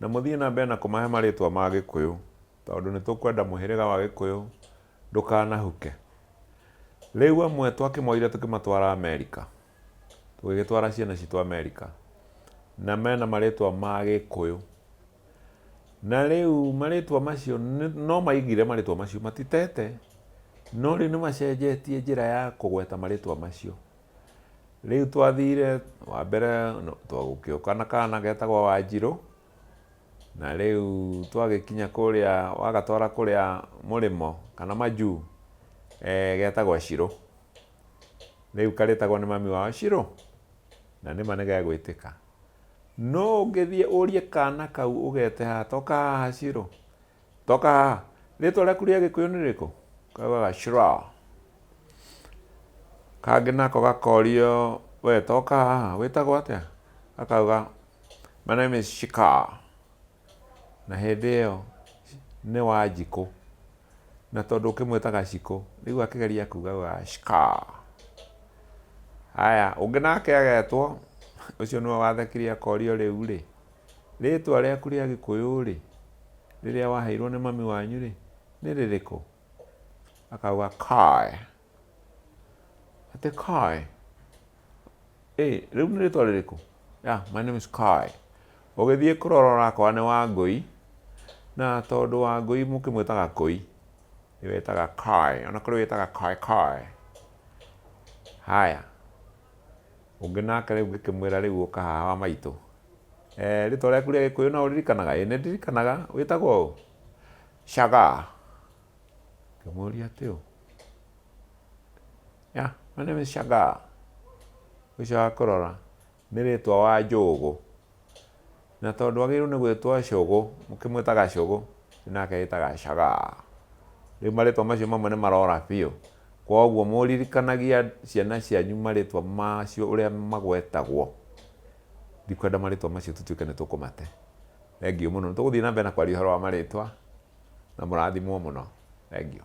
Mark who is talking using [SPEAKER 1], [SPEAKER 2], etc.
[SPEAKER 1] Na mũthiĩ na mbere na kũmahe marĩĩtwa ma Gĩkũyũ tondũ nĩ tũkwenda mũhĩrĩga wa Gĩkũyũ ndũkanahuke. Rĩu amwe twakĩmoire tũkĩmatwara Amerika, tũgĩgĩtwara ciana citũ Amerika, na mena marĩĩtwa ma Gĩkũyũ. Na rĩu marĩĩtwa macio no maigire marĩĩtwa macio, matitete, no rĩu nĩ macenjetie njĩra ya kũgweta marĩĩtwa macio. Rĩu twathire wa mbere gũgĩũka na kana getagwo Wanjirũ, na rĩu twagĩkinya kũrĩa wagatwara kũrĩa mũrĩmo kana majuu getagwo Shiro. Rĩu karĩtagwo nĩ mami wao Shiro, na nĩma nĩ gegwĩtĩka. No ũngĩthiĩ ũrie kana kau ũgete haha toka haha Shiro, Toka haha. Rĩtwa rĩaku rĩa gĩkũyũ nĩ rĩkũ? Kaugaga Shraa. Kangĩ nako gakorio we toka haha wĩtagwo atĩa? Gakauga my name is Shikaa. Na hĩndĩ ĩyo nĩ Wanjikũ. Na tondũ ũkĩmwĩta Gacikũ, rĩu akĩgeria kuga augaga Shikaa. Haya, ũngĩ nake agetwo, ũcio nĩwe wathekire akorio rĩu-rĩ. Rĩĩtwa rĩaku rĩa Gĩkũyũ-rĩ, rĩrĩa waheirwo nĩ mami wanyu-rĩ, nĩ rĩrĩkũ? Akauga Kaĩ. Atĩ Kaĩ? Ĩ, rĩu nĩ rĩĩtwa rĩrĩkũ? Yeah, my name is Kaĩ. Ũgĩthiĩ kũrora ũrakora nĩ Wangũi, na tondũ Wangũi mũkĩmwĩtaga Kũi, nĩwe wĩtaga Kaĩ. O na kũrĩ wĩtaga Kaĩ Kaĩ. Haya. Ũngĩ nake rĩu ngĩkĩmwĩra, Rĩu ũka haha wa maitũ. Ee, rĩtwa rĩaku rĩa Gĩkũyũ no ũririkanaga? Ĩ, nĩ ndirikanaga. Wĩtagwo ũ? Shagaa. Ngĩmũũria, Atĩ ũ? Yeah, my name is Shagaa. Ũcio wa kũrora nĩ rĩtwa wa Njũgũ. Na tondũ agĩrĩirwo nĩ gwĩtwo Cũgũ, mũkĩmwĩtaga Cũgũ, rĩu nake agĩtaga Cagaa. Rĩu marĩtwa macio mamwe nĩ marora biũ. Kwoguo mũririkanagia ciana cianyu marĩtwa macio ũrĩa magwetagwo. Ndikwenda marĩtwa macio tũtuĩke nĩ tũkũmate. Thengiũ mũno. Nĩ tũgũthiĩ na mbere na kwaria ũhoro wa marĩtwa, na mũrathimwo mũno. Thengiũ.